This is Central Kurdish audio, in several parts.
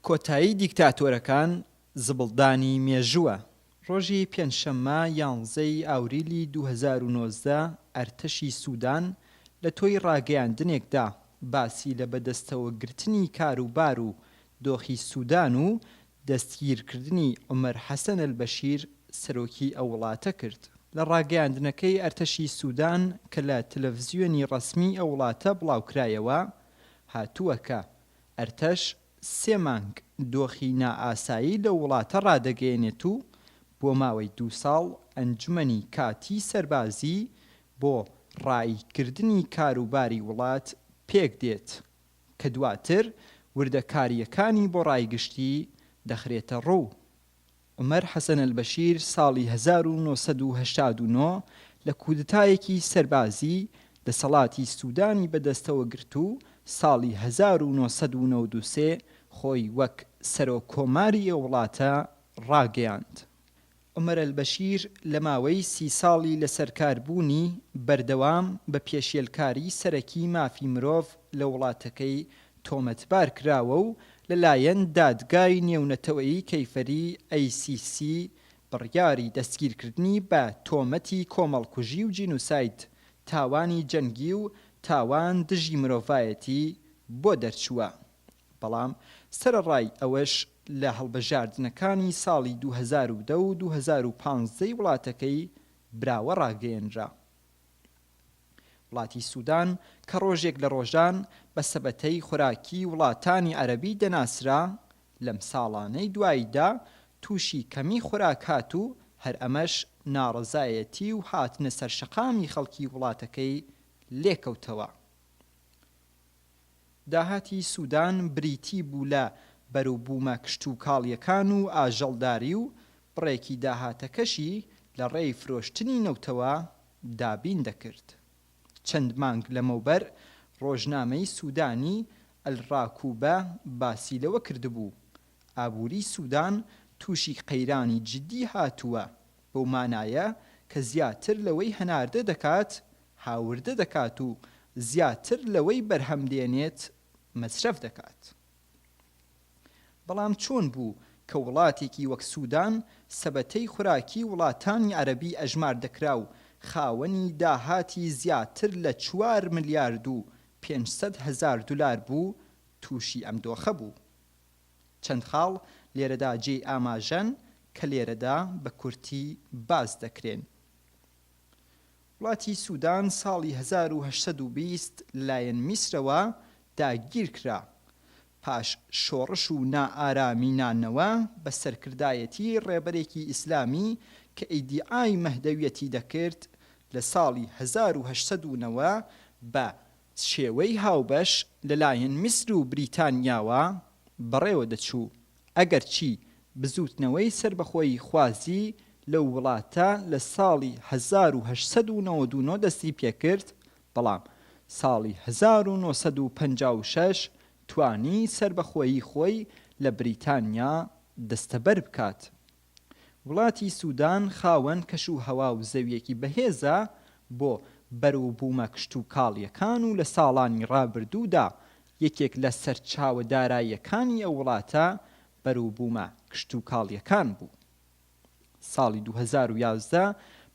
کۆتایی دیکتاتۆرەکان زبڵدانی مێژووە. ڕۆژی پێنجشەممە یانزەی ئاوریلی دوو هەزار و نۆزدە ئەرتەشی سودان لە تۆی ڕاگەیاندنێکدا باسی لە بەدەستەوە گرتنی کاروبار و دۆخی سودان و دەستگیرکردنی عومەر حەسەن ئەلبەشیر سەرۆکی ئەو وڵاتە کرد. لە ڕاگەیاندنەکەی ئەرتەشی سودان کە لە تلەفزیۆنی ڕەسمی ئەو وڵاتە بڵاوکرایەوە هاتووە کە ئەرتەش سێ مانگ دۆخی نائاسایی لەو وڵاتە ڕادەگەیەنێت و بۆ ماوەی دوو ساڵ ئەنجومەنی کاتیی سەربازی بۆ ڕاییکردنی کاروباری وڵات پێکدێت کە دواتر وردەکارییەکانی بۆ ڕای گشتی دەخرێتەڕوو. عومەر حەسەن ئەلبەشیر ساڵی هەزار و نۆ سەد و هەشتا و نۆ لە کودتایەکی سەربازی دەسەڵاتی سودانی بەدەستەوە گرت و ساڵی هەزار و نۆ سەد و نەوەد و سێ خۆی وەک سەرۆک کۆماری ئەو وڵاتە ڕاگەیاند. عومەر ئەلبەشیر لە ماوەی سی ساڵی لەسەرکاربوونی بەردەوام بە پێشێلکاری سەرەکی مافی مرۆڤ لە وڵاتەکەی تۆمەتبار کراوە و لەلایەن دادگای نێونەتەوەیی کەیفەری، ICC، بڕیاری دەستگیرکردنی بە تۆمەتی کۆمەڵکوژی و جینوساید، تاوانی جەنگی و تاوان دژی مرۆڤایەتی، بۆ دەرچووە. بەڵام سەرەڕای ئەوەش لە هەڵبژاردنەکانی ساڵی دوو هەزار و دە و دوو هەزار و پازدە ی وڵاتەکەی براوە ڕاگەیەنرا. وڵاتی سودان کە ڕۆژێک لە ڕۆژان بە سەبەتەی خۆراکی وڵاتانی عەرەبی دەناسرا، لەم ساڵانەی دواییدا تووشی کەمی خۆراک هات و هەر ئەمەش ناڕەزایەتی و هاتنە سەرشەقامی خەڵکی وڵاتەکەی لێکەوتەوە. داهاتی سودان بریتی بوو لە بەروبوومە کشتوکاڵییەکان و ئاژەڵداری و بڕێکی داهاتەکەشی لە ڕێی فرۆشتنی نەوتەوە، دابین دەکرد. چەند مانگ لەمەوبەر ڕۆژنامەی سودانی، ئەلڕاکوبە، باسی لەوە کردبوو، ئابووریی سودان تووشی قەیرانی جیددی هاتووە، بەو مانایە کە زیاتر لەوەی هەناردە دەکات، هاوردە دەکات و زیاتر لەوەی بەرهەم دێنێت، مەسرەف دەکات. بەڵام چۆن بوو کە وڵاتێکی وەک سودان سەبەتەی خوراکی وڵاتانی عەرەبی ئەژمار دەکرا و خاوەنی داهاتی زیاتر لە چوار ملیارد و پێنج سەد هەزار دولار بوو تووشی ئەم دۆخە بوو؟ چەند خاڵ لێرەدا جێی ئاماژەن کە لێرەدا بە کورتی باس دەکرێن. وڵاتی سودان ساڵی هەزار و هەشت سەد و بیست لەلایەن میسرەوە داگیرکرا، پاش شۆڕش و نائارامی نانەوە بە سەرکردایەتی ڕێبەرێکی ئیسلامی کە ئیدیعای مەهدەویەتی دەکرد، لە ساڵی هەزار و هەشت سەد و نەوە بە چێوەی هاوبەش لەلایەن میسر و بریتانیاوە بەڕێوە دەچوو، ئەگەرچی بزووتنەوەی سەربەخۆییخوازی لەو وڵاتە لە ساڵی هەزار و هەشت سەد و نەوەد و نۆ دەستی پێکرد، بەڵام ساڵی هەزار و نۆ سەد و پەنجا و شەش توانی سەربەخۆیی خۆی لە بریتانیا دەستەبەر بکات وڵاتی سودان خاوەن کەش و هەوا و زەویەکی بەهێزە بۆ بەروبومە کشتوکاڵیەکان و لە ساڵانی ڕابردوودا یەکێک لە سەرچاوە داراییەکانی ئەو وڵاتە بەروبومە کشتوکاڵیەکان بوو. ساڵی دوو هەزار و یازدە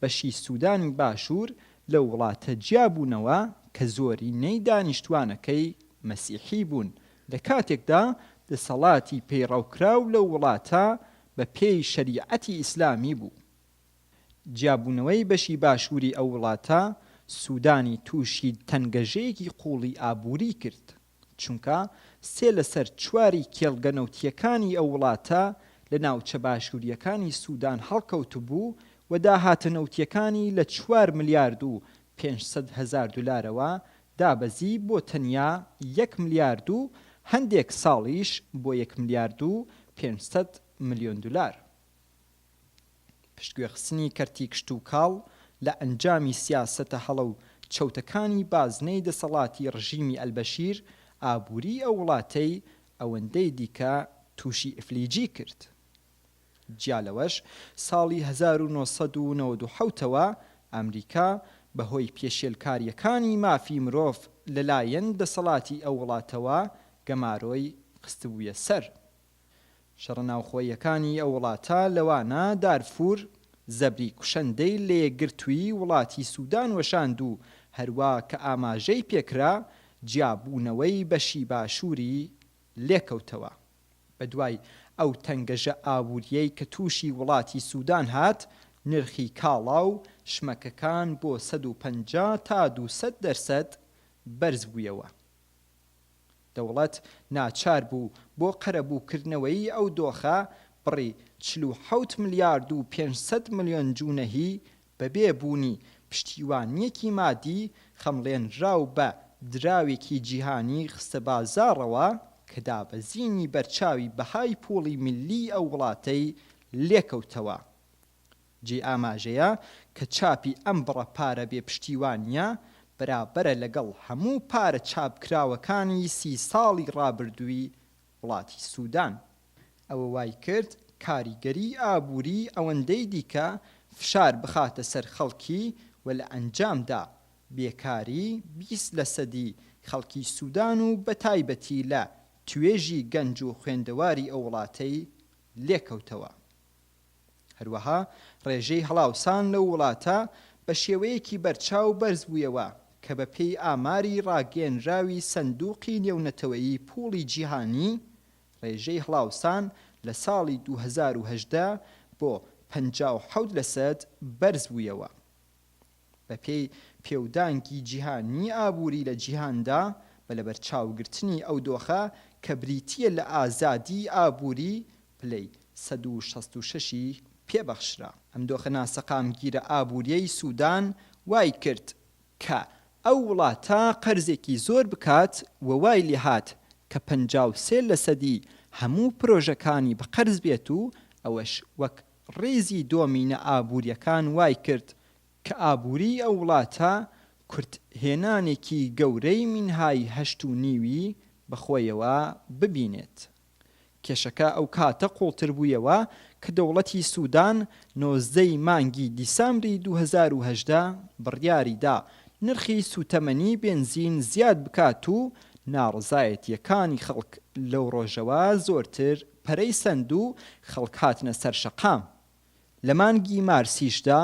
بەشی سودانی باشور لەو وڵاتە جیابوونەوە کە زۆرینەی دانیشتوانەکەی مەسیحی بوون لە کاتێکدا دەسەڵاتی پەیڕەوکراو لەو وڵاتە بە پێی شەریعەتی ئیسلامی بوو. جیابوونەوەی بەشی باشووری ئەو وڵاتە سوودانی تووشی تەنگەژەیەکی قووڵی ئابووری کرد، چونکە سێ لەسەر چواری کێڵگە نەوتییەکانی ئەو وڵاتە لە ناوچە باشوورییەکانی سوودان هەڵکەوتبوو و داهاتە نەوتییەکانی لە چوار ملیارد و پێنج سەد هەزار دولارەوە دابەزی بۆ تەنیا یەک ملیارد و هەندێک ساڵیش بۆ یەک ملیارد و پێنج سەد ملیۆن دولار. پشتگوێخستنی کەرتی کشتوکاڵ لە ئەنجامی سیاسەتە هەڵە و چەوتەکانی بازنەی دەسەڵاتی ڕژیمی ئەلبەشیر ئابووریی ئەو وڵاتەی ئەوەندەی دیکە تووشی ئیفلیجی کرد. جیا لەوەش ساڵی هەزار و نۆ سەد و نەوەد و حەوت ەوە ئەمریکا بەهۆی پێشێلکارییەکانی مافی مرۆڤ لەلایەن دەسەڵاتی ئەو وڵاتەوە گەمارۆی خستبوویە سەر شەڕە ناوخۆییەکانی ئەو وڵاتە لەوانە دارفور زەبری کوشەندەی لە یەکگرتووی وڵاتی سودان وەشاند و هەروا کە ئاماژەی پێکرا جیابوونەوەی بەشی باشووری لێکەوتەوە. بەدوای ئەو تەنگەژە ئابوورییەی کە تووشی وڵاتی سودان هات، نرخی کاڵا و شمەکەکان بۆ سەد و پەنجا تا دوو سەد دەرسەد بەرزبوویەوە. دەوڵەت ناچار بوو بۆ قەرەبووکردنەوەیی ئەو دۆخە، بڕی چل و حەوت ملیارد و پێنج سەد ملیۆن جونەهی بەبێ بوونی پشتیوانییەکی مادی خەمڵێنراو بە دراوێکی جیهانی خستە بازاڕەوە کە دابەزینی بەرچاوی بەهای پوڵی میللیی ئەو وڵاتەی لێکەوتەوە. جێی ئاماژەیە کە چاپی ئەم بڕە پارە بێ پشتیوانییە بەرابەرە لەگەڵ هەموو پارە چاپکراوەکانی سی ساڵی ڕابردووی وڵاتی سودان ئەوە وای کرد کاریگەریی ئابووریی ئەوەندەی دیکە فشار بخاتە سەر خەڵکی و لە ئەنجامدا بێکاریی بیست لەسەدی خەڵکی سودان و بەتایبەتی لە توێژی گەنج و خوێندەواری ئەو وڵاتەی لێکەوتەوە. هەروەها ڕێژەی هەڵاوسان لەو وڵاتە بە شێوەیەکی بەرچاو بەرزبوویەوە کە بە پێی ئاماری ڕاگەیەنراوی سەندووقی نێونەتەوەیی پووڵی جیهانی ڕێژەی هەڵاوسان لە ساڵی دوو هەزار و هەژدە بۆ پەنجا و حەوت لەسەد بەرزبوویەوە. بەپێی پێودانگی جیهانیی ئابووری لە جیهاندا، بە لەبەرچاوگرتنی ئەو دۆخە کە بریتییە لە ئازادیی ئابووری، پلەی سەد و شەست و شەش ی پێ بەخشرا. ئەم دۆخە ناسەقامگیرە ئابوورییەی سوودان وای کرد کە ئەو وڵاتە قەرزێکی زۆر بکات و وای لێ هات کە پەنجا و سێ لەسەدی هەموو پرۆژەکانی بە قەرز بێت و ئەوەش وەک ڕیزی دۆمینە ئابوورییەکان وای کرد کە ئابووریی ئەو وڵاتە کورت هێنانێکی گەورەی مینهای هەشت و نیوی بە خۆیەوە ببینێت. کێشەکە ئەو کاتە قووڵتر بوویەوە کە دەوڵەتی سوودان نۆزدە ی مانگی دیسامبری دوو هەزار و هەژدە بڕیاری دا نرخی سووتەمەنی بێنزین زیاد بکات و ناڕەزایەتییەکانی خەڵک لەو ڕۆژەوە زۆرتر پەرەی سەند و خەڵک هاتنە سەر شەقام. لە مانگی مارسیشدا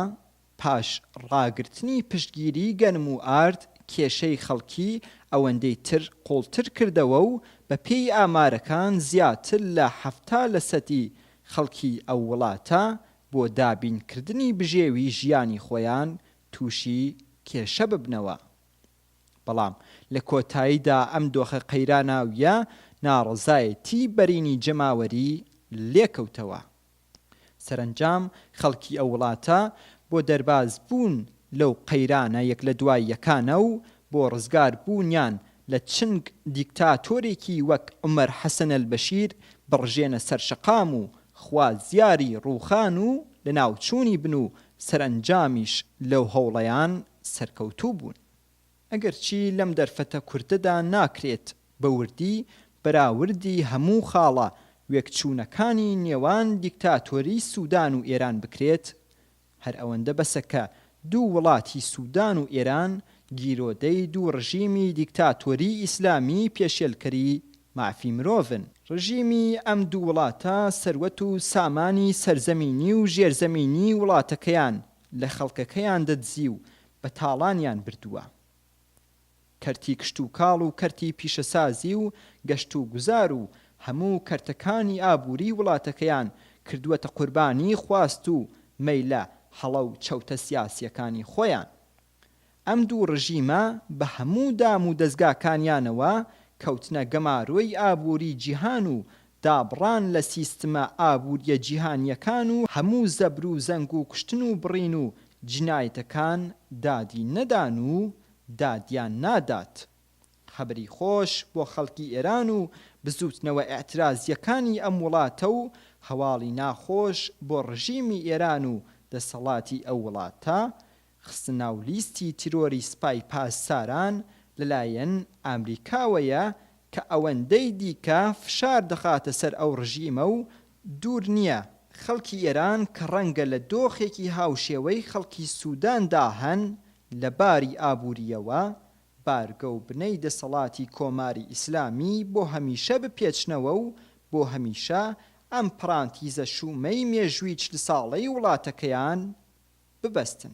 پاش ڕاگرتنی پشتگیریی گەنم و ئارد، کێشەی خەڵکی ئەوەندەی تر قووڵتر کردەوە و بە پێی ئامارەکان زیاتر لە حەفتا لە سەدی خەڵکی ئەو وڵاتە بۆ دابینکردنی بژێوی ژیانی خۆیان تووشی کێشە ببنەوە. بەڵام لە کۆتاییدا ئەم دۆخە قەیراناوییە ناڕەزایەتی بەرینی جەماوەری لێکەوتەوە. سەرەنجام خەڵکی ئەو وڵاتە بۆ دەربازبوون لەو قەیرانە یەک لە دوای یەکانە و بۆ ڕزگاربوونیان لە چنگ دیکتاتۆرێکی وەک عومەر حەسەن ئەلبەشیر بڕژێنە سەر شەقام و خوازیاری ڕووخان و لەناوچوونی بن و سەرەنجامیش لەو هەوڵەیان سەرکەوتوو بوون. ئەگەرچی لەم دەرفەتە کورتەدا ناکرێت بە وردی بەراوردی هەموو خاڵە وێکچوونەکانی نێوان دیکتاتۆری سودان و ئێران بکرێت، هەر ئەوەندە بەسە کە دوو وڵاتی سودان و ئێران گیرۆدەی دوو ڕژیمی دیکتاتۆری ئیسلامی پێشێلکەری مافی مرۆڤن. ڕژیمی ئەم دوو وڵاتە سەروەت و سامانی سەرزەمینی و ژێرزەمینی وڵاتەکەیان لە خەڵکەکەیان دەدزی و بە تاڵانیان بردووە. کەرتی کشتوکاڵ و کەرتی پیشەسازی و گەشتوگوزار و هەموو کەرتەکانی ئابووریی وڵاتەکەیان کردووەتە قوربانیی خواست و مەیلە هەڵە و چەوتە سیاسییەکانی خۆیان. ئەم دوو ڕژیمە بە هەموو دام و دەزگاکانیانەوە کەوتنە گەمارۆی ئابووری جیهان و دابڕان لە سیستمە ئابووریە جیهانیەکان و هەموو زەبر و زەنگ و کوشتن و بڕین و جینایەتەکان دادی نەدان و دادیان نادات. خەبەری خۆش بۆ خەڵکی ئێران و بزووتنەوە ئیعترازیەکانی ئەم وڵاتە و هەواڵی ناخۆش بۆ ڕژیمی ئێران و دەسەڵاتی ئەو وڵاتە خستنە ناو لیستی تیرۆری سپای پاسداران لەلایەن ئامریکاوەیە کە ئەوەندەی دیکە فشار دەخاتە سەر ئەو ڕژیمە و دوور نییە خەڵکی ئێران کە ڕەنگە لە دۆخێکی هاوشێوەی خەڵکی سوداندا هەن لە باری ئابوورییەوە بارگە و بنەی دەسەڵاتی کۆماری ئیسلامی بۆ هەمیشە بپێچنەوە و بۆ هەمیشە ئەم پڕانتیزە شوومەی مێژووی چل ساڵەی وڵاتەکەیان ببەستن.